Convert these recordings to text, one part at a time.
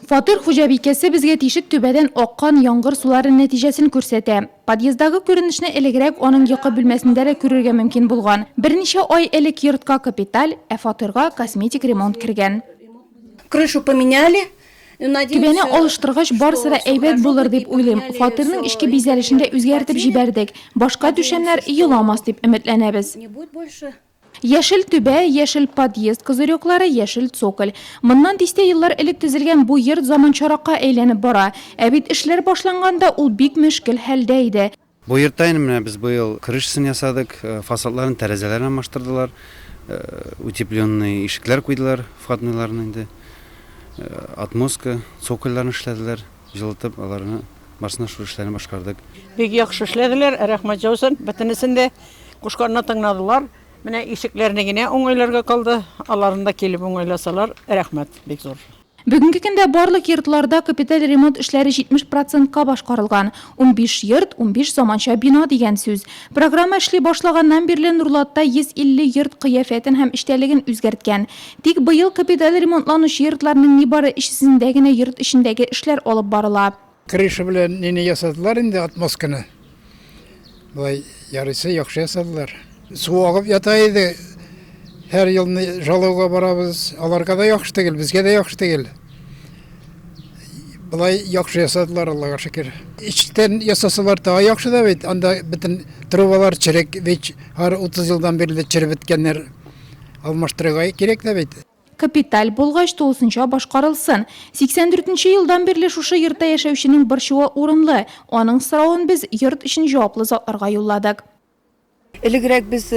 Фатир хуҗабикәсе безгә тишек түбәдән аккан яңгыр сулары нәтиҗәсен күрсәтә. Подъездагы күренешне элегрәк аның йокы бүлмәсендә дә күрергә мөмкин булган. Берничә ай элек йортка капиталь, ә фатирга косметик ремонт кергән. Крышу поменяли. Түбәне алыштыргач, барысы да әйбәт булыр дип уйлыйм. Фатирның эчке бизәлешен дә үзгәртеп җибәрдек. Башка түшәмнәр еламас дип өметләнәбез. Яшел түбә, яшел подъезд козырёклары, яшел цоколь. Моннан дистә еллар элек төзелгән бу йорт заманчаракка әйләнеп бара. Ә бит эшләр башланганда ул бик мөшкел хәлдә иде. Бу йортта инде менә без быел крышасын ясадык, фасадларын, тәрәзәләрен алмаштырдылар, утепленный ишекләр куйдылар, входныйларны инде, отмостка, цокольләрен эшләделәр. җылытып, аларны барсына шул эшләрне башкардык. Бик яхшы эшләделәр, рәхмәт җаусын. Бөтенесен дә кушканны тыңнадылар. Менә ишекләрне генә уңайларга калды. Аларны да килеп уңайласалар, рәхмәт бик зур. Бүгенге көндә барлык йортларда капиталь ремонт эшләре 70 процентка башкарылган. Унбиш йорт, унбиш заманча бина дигән сүз. Программа эшли башлаганнан бирле Нурлатта 150 йорт кыяфәтен һәм эчтәлеген үзгәрткән. Тик быел капиталь ремонтланучы йортларның нибары өчесендә генә йорт эчендәге эшләр алып барыла. Крыша белән нене ясадылар инде, отмостканы. Болай ярыйсы яхшы ясадылар. Су агып ята иде. Һәр елны жалоуга барабыз. Аларга да яхшы тегел, безгә дә яхшы тегел. Болай яхшы ясадылар, Аллага шөкер. Эчтән ясасалар тагы яхшы да бит. Анда бөтен трубалар черек, ВИЧ һәр 30 елдан бирле череп беткәннәр. алмаштырырга кирәк тә бит. Капиталь булгач, тулысынча башкарылсын. 84 нче елдан бирле шушы йортта яшәүченең борчуы урынлы. Аның соравын без йорт өчен җаваплы затларга юлладык. Элегрәк без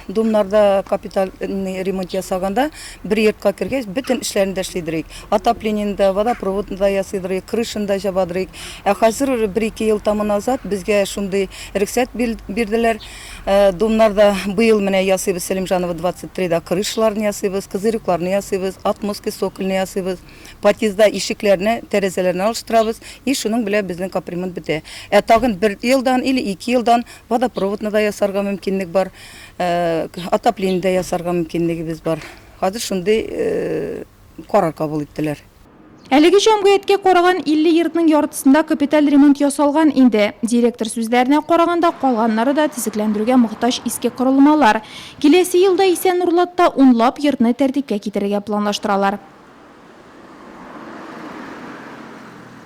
Думнарда капитальный ремонт ясаганда, бер йортка кергәч, бөтен эшләрен дә эшли дөрик. Отопленияне дә, водопроводны да ясый дөрик, крышаны да җаба дөрик. Ә хәзер бер-ике ел тәмам назад безгә шундый рөхсәт бирделәр. Думнарда быел менә ясыйбыз, Сәлимжанова 23 да крышаларны ясыйбыз, козырюкларны ясыйбыз, отмостки сокольны ясыйбыз. Подъездда ишекләрне, тәрәзәләрне алыштырабыз и шуның белән безнең капремонт бетә. Ә тагын бер елдан или ике елдан водопроводны да ясарга мөмкинлек бар, отопление дә ясарга мөмкинлегебез бар. Хәзер шундый карар кабул иттеләр. Әлеге җәмгыятькә караган 50 йортның яртысында капиталь ремонт ясалган инде. Директор сүзләренә караганда, калганнары да төзекләндерүгә мохтаҗ иске корылмалар. Киләсе елда исә Нурлатта унлап йортны тәртипкә китерергә планлаштыралар.